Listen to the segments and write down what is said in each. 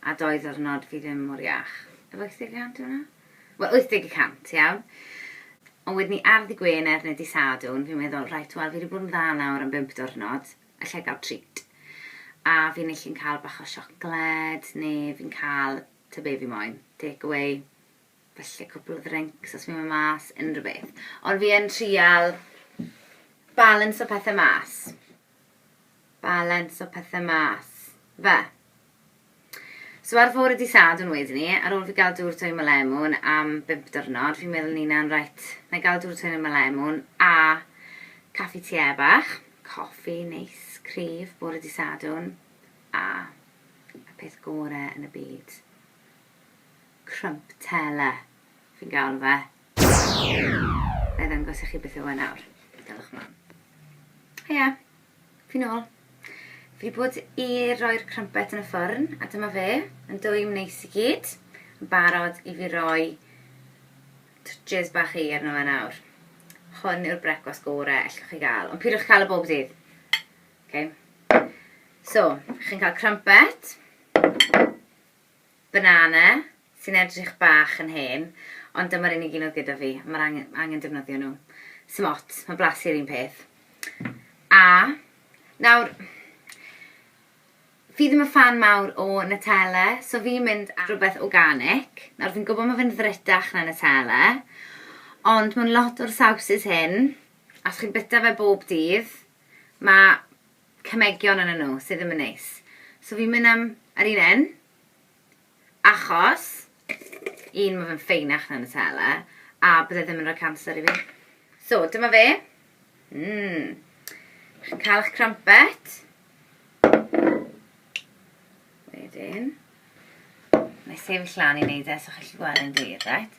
A doi ddiwrnod fi ddim mor iach. Efo 80 y cant yw hwnna? Wel 80 y cant, iawn? Ond wedyn ni ar ddy Gwener neu dy Sadwrn fi'n meddwl reit wel fi wedi bod yn dda nawr am bump diwrnod, allai gael treat? A fi'n ellu'n cael bach o siocled neu fi'n cael tybed be fi moyn, take away, falle cwpl o ddrincs os fi'n mynd mas, unrhyw beth. Ond fi yn trial balansio pethe mas. balans o pethe mas. Fe. So ar fore di Sadwrn wedyn ni, ar ôl fi gael dŵr twyni Malemwn am bimp dyrnod, fi'n meddwl nina'n reit, na i gael dŵr twyni Malemwn a caffi te bach, coffi neis, cryf, bore di Sadwrn, a y peth gore yn y byd. Crump tele, fi'n gael fe. Nai ddangos i chi beth yw e nawr. Dewch mlan. Heia! Fi nôl. Fi wedi bod i roi'r crumpet yn y ffwrn, a dyma fe, yn dwym neis i gyd, yn barod i fi roi twtshys bach i arno fe nawr. Hwn yw'r brecwast gore ellwch chi gael, ond pidwch cael y bob dydd. Okay. So, chi'n cael crumpet. Banana, sy'n edrych bach yn hen, ond dyma'r unig un oedd gyda fi, mae'r angen, angen defnyddio nhw. Sym ots, mae blasu'r un peth. A, nawr, fi ddim yn fan mawr o Nutella, so fi'n mynd ar rhywbeth organic. Nawr, fi'n gwybod mae fe'n ddrytach na Nutella, ond mae'n lot o'r sawsys hyn, a os chi'n byta fe bob dydd, mae cemegion arnyn nhw sydd ddim yn neis. So fi'n mynd am yr un un, achos, un, mae fe'n ffeinach na Nutella, a bydde ddim yn rhoi cancer i fi. So, dyma fe. Mmm. Chi'n cael eich crumpet. Wedyn, na i sefyll lan i wneud e, so chi'n gallu gweld e'n glir, right?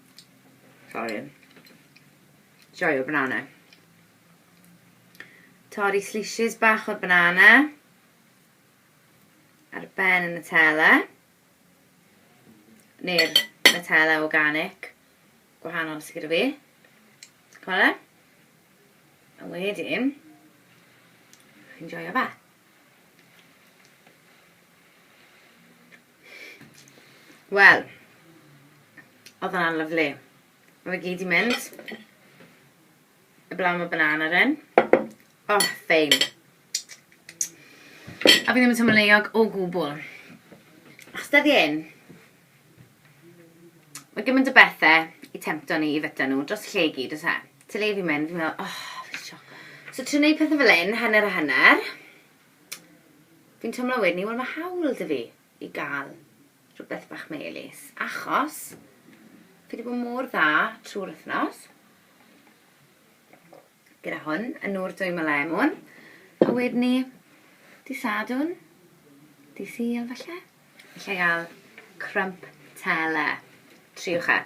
Sorry. Joio banana. Torri slices bach o'r banana. Ar ben y Nutella. Neu'r Nutella organic. Gwahanol sydd gyda fi. Cwala. A wedyn, chi'n joio fe. Wel, oedd hwnna'n lyflu. Mae fe gyd i mynd. Y blaen mae banana ryn. O, oh, fein. A fi ddim yn teimlo leiog o gwbl. Achos dyddi un, mae gymaint o bethau i tempto ni i fyta nhw dros lle i gyd, os e. Ti'n le fi'n mynd, fi'n meddwl, oh, fi siocol. So, trio gwneud pethau fel un, hanner a hanner. Fi'n twmlo wedyn 'ny, wel ma' hawl 'da fi i ga'l rhwbeth bach melys, achos fi 'di bod mor dda trw'r wthnos gyda hwn, y nŵr dwy ma' lemwn, a wedyn 'ny dy' Sadwrn, dy' Sul falle, allai ga'l crump tele. Triwch e.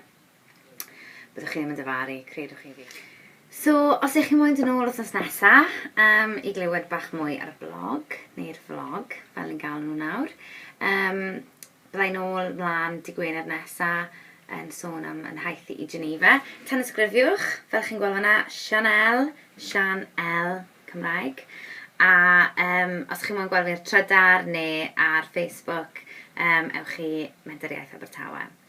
Byddwch chi ddim yn dyfaru, credwch chi fi. So, os ych chi moyn dyn ôl os nesa um, i glywed bach mwy ar y blog, neu'r vlog, fel ni'n gael nhw nawr, um, byddai'n ôl mlaen dy Gwener nesa yn sôn am yn haith i Geneva. Tan ysgrifiwch, fel chi'n gweld yna, Chanel, Sian L, Cymraeg. A um, os chi'n mwyn gweld fi ar Trydar neu ar Facebook, um, ewch i Mentor Iaith Abertawe.